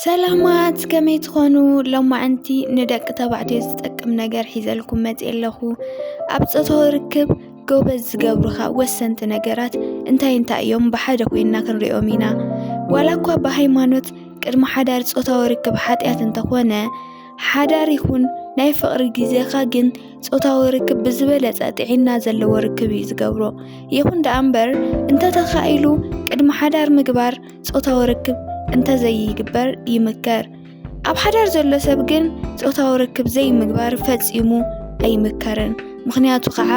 ሰላማት ከመይ ትኾኑ ሎማዕንቲ ንደቂ ተባዕትዮ ዝጠቅም ነገር ሒዘልኩም መፅ ኣለኹ ኣብ ፆታዊ ርክብ ጎበዝ ዝገብሩኻ ወሰንቲ ነገራት እንታይ እንታይ እዮም ብሓደ ኮይንና ክንሪኦም ኢና ዋላ እኳ ብሃይማኖት ቅድሚ ሓዳር ፆታዊ ርክብ ሓጢኣት እንተኾነ ሓዳር ይኹን ናይ ፍቕሪ ግዜኻ ግን ፆታዊ ርክብ ብዝበለፀ ጥዒና ዘለዎ ርክብ እዩ ዝገብሮ ይኹን ደኣ እምበር እንተተኻኢሉ ቅድሚ ሓዳር ምግባር ጾታዊ ርክብ እንተዘይግበር ይምከር። ኣብ ሓዳር ዘሎ ሰብ ግን ጾታዊ ርክብ ዘይምግባር ፈጺሙ ኣይምከርን። ምኽንያቱ ከዓ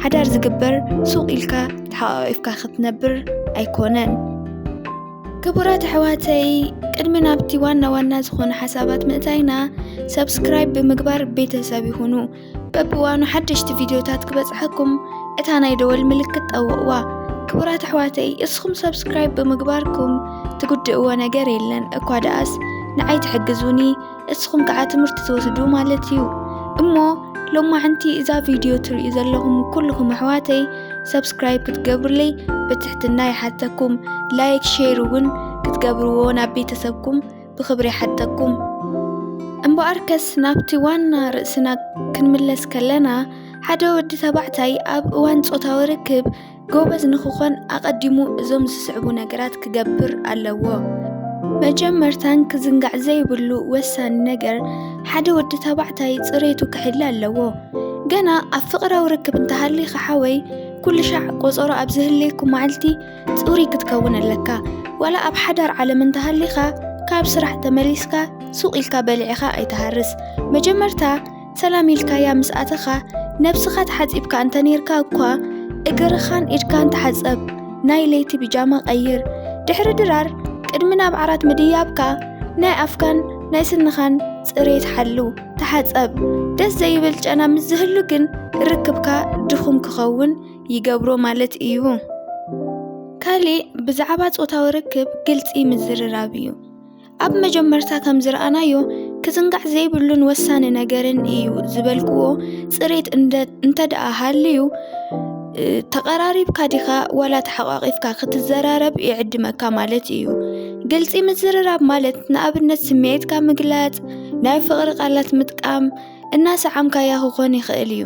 ሓዳር ዝግበር ሱቕ ኢልካ ተሓቛቒፍካ ክትነብር ኣይኮነን። ክቡራት ኣሕዋተይ ቅድሚ ናብቲ ዋና ዋና ዝኾነ ሓሳባት ምእታይና ሰብስክራይብ ብምግባር ቤተሰብ ይኹኑ። በብዋኑ ሓደሽቲ ቪድዮታት ክበጽሐኩም እታ ናይ ደወል ምልክት ጠውቕዋ። ክቡራት ኣሕዋተይ እስኹም ሰብስክራይብ ብምግባርኩም ትጉድእዎ ነገር የለን እኳ ደኣስ ንዓይ ትሕግዙኒ እስኹም ከዓ ትምህርቲ ትወስዱ ማለት እዩ እሞ ሎማዕንቲ እዛ ቪድዮ ትርእዩ ዘለኹም ኩልኹም ኣሕዋተይ ሰብስክራይብ ክትገብሩለይ ብትሕትና ይሓተኩም ላይክ ሼር እውን ክትገብርዎ ናብ ቤተሰብኩም ብኽብሪ ይሓተኩም። እምበኣርከስ ናብቲ ዋና ርእስና ክንምለስ ከለና ሓደ ወዲ ተባዕታይ ኣብ እዋን ጾታዊ ርክብ ጎበዝ ንክኾን ኣቐዲሙ እዞም ዝስዕቡ ነገራት ክገብር ኣለዎ። መጀመርታን ክዝንጋዕ ዘይብሉ ወሳኒ ነገር ሓደ ወዲ ተባዕታይ ጽሬቱ ክሕሊ ኣለዎ። ገና ኣብ ፍቕራዊ ርክብ እንተሃሊኻ ሓወይ ኩልሻዕ ቆጸሮ ኣብ ዝህልየኩም መዓልቲ ጽሩይ ክትከውን ኣለካ ዋላ ኣብ ሓዳር ዓለም እንተሃሊኻ ካብ ስራሕ ተመሊስካ ሱቕ ኢልካ በሊዕኻ ኣይትሃርስ መጀመርታ ሰላም ኢልካያ ምስ ኣተኻ ነብስኻ ተሓጺብካ እንተ ነርካ እኳ እግርኻን ኢድካን ተሓጸብ ናይ ለይቲ ብጃማ ቀይር ድሕሪ ድራር ቅድሚ ናብ ዓራት ምድያብካ ናይ ኣፍካን ናይ ስንኻን ጽሬት ሓሉ ተሓጸብ ደስ ዘይብል ጨና ምስ ዝህሉ ግን ርክብካ ድኹም ክኸውን ይገብሮ ማለት እዩ። ካልእ ብዛዕባ ጾታዊ ርክብ ግልጺ ምዝርራብ እዩ። ኣብ መጀመርታ ከም ዝረኣናዮ ክዝንጋዕ ዘይብሉን ወሳኒ ነገርን እዩ ዝበልክዎ ጽሬት እንተ ደኣ ሃልዩ ተቐራሪብካ ዲኻ ዋላ ተሓቋቒፍካ ክትዘራረብ ይዕድመካ ማለት እዩ። ግልጺ ምዝርራብ ማለት ንኣብነት ስምዒትካ ምግላጽ፣ ናይ ፍቕሪ ቃላት ምጥቃም፣ እናሰዓምካያ ክኾን ይኽእል እዩ።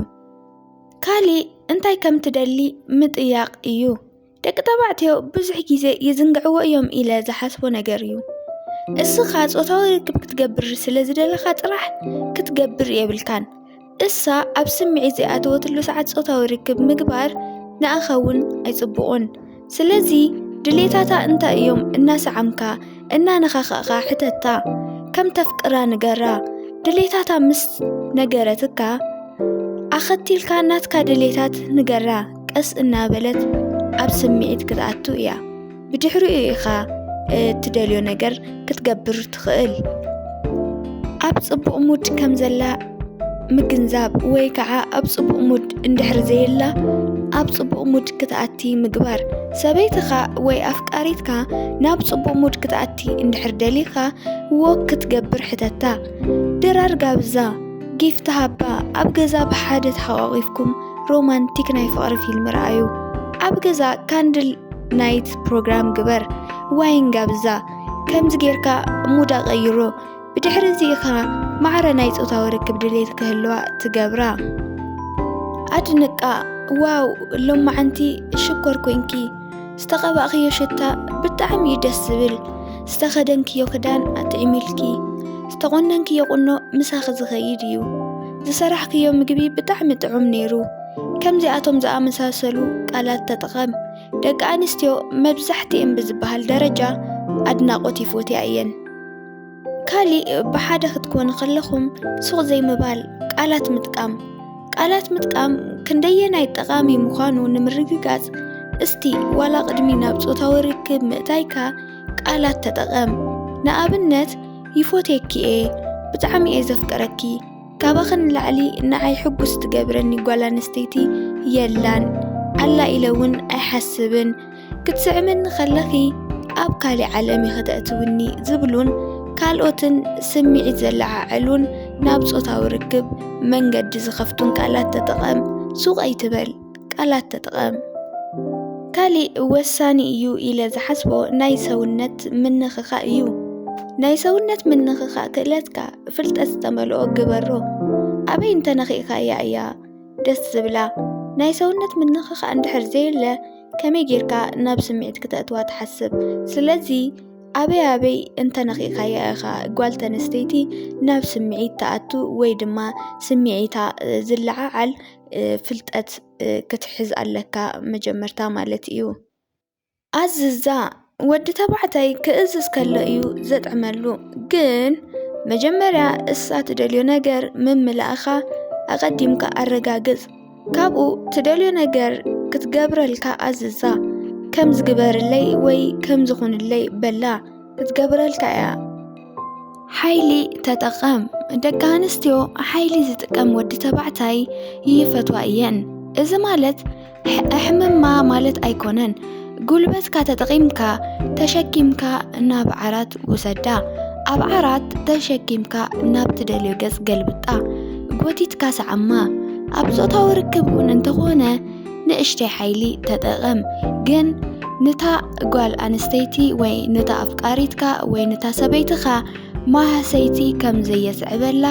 ካሊእ እንታይ ከም ትደሊ ምጥያቕ እዩ። ደቂ ተባዕትዮ ብዙሕ ግዜ ይዝንግዕዎ እዮም ኢለ ዝሓስቦ ነገር እዩ። እስኻ ጾታዊ ርክብ ክትገብር ስለ ዝደለኻ ጥራሕ ክትገብር የብልካን። እሳ ኣብ ስምዒት ዘይኣተወትሉ ሰዓት ጾታዊ ርክብ ምግባር ንኣኻ እውን ኣይጽቡቑን። ስለዚ ድሌታታ እንታይ እዮም እናሰዓምካ እናነኻኻእካ ሕተታ ከም ተፍቅራ ንገራ ድሌታታ ምስ ነገረትካ ኣኸቲልካ ናትካ ድሌታት ንገራ ቀስ እናበለት ኣብ ስምዒት ክትኣቱ እያ ብድሕሪኡ ኢኻ እትደልዮ ነገር ክትገብር ትኽእል። ኣብ ጽቡቕ ሙድ ከም ዘላ ምግንዛብ ወይ ከዓ ኣብ ጽቡቕ ሙድ እንድሕር ዘየላ ኣብ ጽቡቕ ሙድ ክትኣቲ ምግባር። ሰበይትኻ ወይ ኣፍቃሪትካ ናብ ጽቡቕ ሙድ ክትኣቲ እንድሕር ደሊኻ ወክ ክትገብር ሕተታ። ድራር ጋብዛ፣ ጊፍት ሃባ፣ ኣብ ገዛ ብሓደ ተሓቋቒፍኩም ሮማንቲክ ናይ ፍቕሪ ፊልም ረኣዩ። ኣብ ገዛ ካንድል ናይት ፕሮግራም ግበር ዋይን ጋብዛ ከምዚ ጌርካ ሙዳ ቀይሮ ብድሕሪ እዚ ኢኻ ማዕረ ናይ ፆታዊ ርክብ ድሌት ክህልዋ ትገብራ ኣድንቃ ዋው ሎማዓንቲ ሽኮር ኮንኪ ዝተቐባእኽዮ ሽታ ብጣዕሚ እዩ ደስ ዝብል ዝተኸደንክዮ ክዳን ኣጥዒሚልኪ ዝተቆነንክዮ ቁኖ ምሳኺ ዝኸይድ እዩ ዝሰራሕክዮ ምግቢ ብጣዕሚ ጥዑም ነይሩ ከምዚኣቶም ዝኣመሳሰሉ ቃላት ተጠቐም። ደቂ ኣንስትዮ መብዛሕትኤን ብዝበሃል ደረጃ ኣድናቖት ይፎትያ እየን። ካሊእ ብሓደ ክትኮኑ ከለኹም ሱቕ ዘይምባል፣ ቃላት ምጥቃም። ቃላት ምጥቃም ክንደየናይ ጠቓሚ ምዃኑ ንምርግጋጽ እስቲ ዋላ ቅድሚ ናብ ጾታዊ ርክብ ምእታይካ ቃላት ተጠቐም። ንኣብነት ይፎትየኪ እየ፣ ብጣዕሚ እየ ዘፍቅረኪ፣ ካባኺ ንላዕሊ ንዓይ ሕጉስ ትገብረኒ ጓል ኣንስተይቲ የላን ኣላ ኢለ እውን ኣይሓስብን ክትስዕምኒ ከለኺ ኣብ ካሊእ ዓለም ኢኺ ተእትውኒ ዝብሉን ካልኦትን ስምዒት ዘለዓዕሉን ናብ ጾታዊ ርክብ መንገዲ ዝኸፍቱን ቃላት ተጠቐም ሱቕ ኣይትበል ቃላት ተጠቐም። ካሊእ ወሳኒ እዩ ኢለ ዝሓስቦ ናይ ሰውነት ምንኽኻእ እዩ። ናይ ሰውነት ምንኽኻእ ክእለትካ ፍልጠት ዝተመልኦ ግበሮ። ኣበይ እንተነኺእካያ እያ ደስ ዝብላ። ናይ ሰውነት ምንኽኻእ እንድሕር ዘየለ ከመይ ጌርካ ናብ ስምዒት ክተእትዋ ትሓስብ። ስለዚ ኣበይ ኣበይ እንተነኺእካያ ኢኻ ጓል ተነስተይቲ ናብ ስምዒት ትኣቱ ወይ ድማ ስምዒታ ዝለዓዓል ፍልጠት ክትሕዝ ኣለካ መጀመርታ ማለት እዩ። ኣዝዛ ወዲ ተባዕታይ ክእዝዝ ከሎ እዩ ዘጥዕመሉ። ግን መጀመርያ እሳ ትደልዮ ነገር ምምላእኻ ኣቐዲምካ ኣረጋግጽ። ካብኡ ትደልዮ ነገር ክትገብረልካ ኣዝዛ። ከም ዝግበርለይ ወይ ከም ዝኹንለይ በላ። ክትገብረልካ እያ ሓይሊ ተጠቐም ደቂ ኣንስትዮ ሓይሊ ዝጥቀም ወዲ ተባዕታይ ይፈትዋ እየን እዚ ማለት ኣሕምማ ማለት ኣይኮነን ጉልበትካ ተጠቒምካ ተሸኪምካ ናብ ዓራት ውሰዳ ኣብ ዓራት ተሸኪምካ ናብ ትደልዮ ገጽ ገልብጣ ጎቲትካ ሰዓማ ኣብ ጾታዊ ርክብ እውን እንተኾነ ንእሽተይ ሓይሊ ተጠቐም ግን ንታ ጓል ኣንስተይቲ ወይ ንታ ኣፍቃሪትካ ወይ ንታ ሰበይትኻ ማህሰይቲ ከም ዘየስዕበላ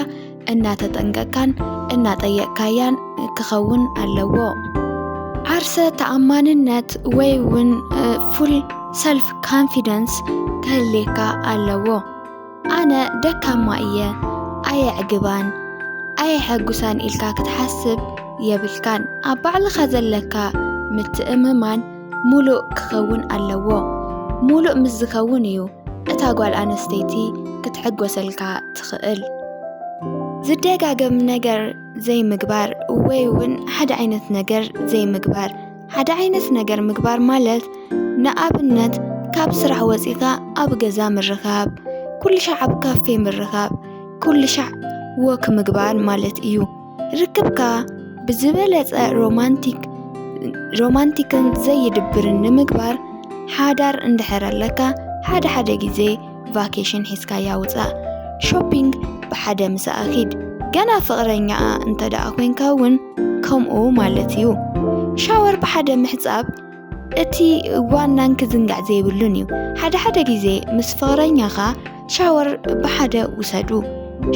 እናተጠንቀቅካን እናጠየቅካያን ክኸውን ኣለዎ። ዓርሰ ተኣማንነት ወይ እውን ፉል ሰልፍ ካንፊደንስ ክህልየካ ኣለዎ። ኣነ ደካማ እየ ኣየዕግባን ኣየሐጉሳን ኢልካ ክትሓስብ የብልካን። ኣብ ባዕልኻ ዘለካ ምትእምማን ሙሉእ ክኸውን ኣለዎ። ሙሉእ ምስ ዝኸውን እዩ እታ ጓል ኣነስተይቲ ክትሕጎሰልካ ትኽእል። ዝደጋገም ነገር ዘይምግባር ወይ እውን ሓደ ዓይነት ነገር ዘይምግባር ሓደ ዓይነት ነገር ምግባር ማለት ንኣብነት ካብ ስራሕ ወፂእካ ኣብ ገዛ ምርኻብ፣ ኩሉ ሻዕ ኣብ ካፌ ምርኻብ፣ ኩሉ ሻዕ ወክ ምግባር ማለት እዩ። ርክብካ ብዝበለፀ ሮማንቲክ ሮማንቲክን ዘይድብርን ንምግባር ሓዳር እንድሕር ኣለካ ሓደ ሓደ ግዜ ቫኬሽን ሒዝካያ ውፃእ ሾፒንግ ብሓደ ምሳኣ ኺድ ገና ፍቕረኛኣ እንተ ደኣ ኮንካ እውን ከምኡ ማለት እዩ ሻወር ብሓደ ምሕፃብ እቲ ዋናን ክዝንጋዕ ዘይብሉን እዩ ሓደ ሓደ ግዜ ምስ ፍቕረኛኻ ሻወር ብሓደ ውሰዱ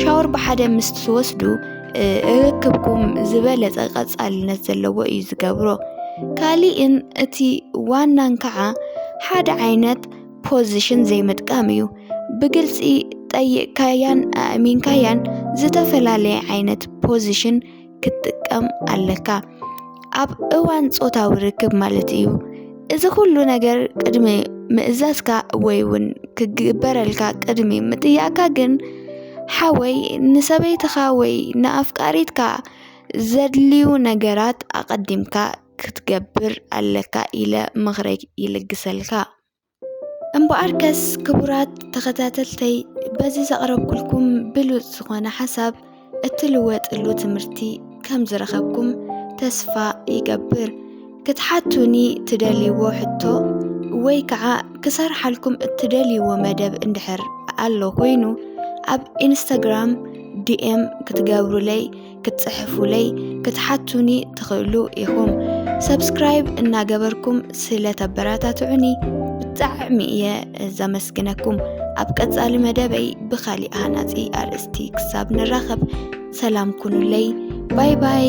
ሻወር ብሓደ ምስ ትወስዱ እ፣ ርክብኩም ዝበለፀ ቀፃልነት ዘለዎ እዩ ዝገብሮ ካሊእን እቲ ዋናን ከዓ ሓደ ዓይነት ፖዚሽን ዘይምጥቃም እዩ። ብግልፂ ጠይቕካያን ኣእሚንካያን ዝተፈላለየ ዓይነት ፖዚሽን ክትጥቀም ኣለካ ኣብ እዋን ፆታዊ ርክብ ማለት እዩ። እዚ ኩሉ ነገር ቅድሚ ምእዛዝካ ወይ እውን ክግበረልካ ቅድሚ ምጥያቅካ ግን ሓወይ ንሰበይትኻ ወይ ንኣፍቃሪትካ ዘድልዩ ነገራት ኣቐዲምካ ክትገብር ኣለካ ኢለ ምኽረይ ይልግሰልካ። እምበኣርከስ ክቡራት ተኸታተልተይ በዚ ዘቕረብኩልኩም ብሉጽ ዝኾነ ሓሳብ እትልወጥሉ ትምህርቲ ከም ዝረኸብኩም ተስፋ ይገብር። ክትሓቱኒ ትደልይዎ ሕቶ ወይ ከዓ ክሰርሓልኩም እትደልይዎ መደብ እንድሕር ኣሎ ኮይኑ ኣብ ኢንስታግራም ዲኤም ክትገብሩለይ ክትጽሕፉለይ ክትሓቱኒ ትኽእሉ ኢኹም ሰብስክራይብ እናገበርኩም ስለ ተበረታትዑኒ ብጣዕሚ እየ ዘመስግነኩም ኣብ ቀጻሊ መደበይ ብኻሊእ ሃናጺ ኣርእስቲ ክሳብ ንራኸብ ሰላም ኩኑለይ ባይ ባይ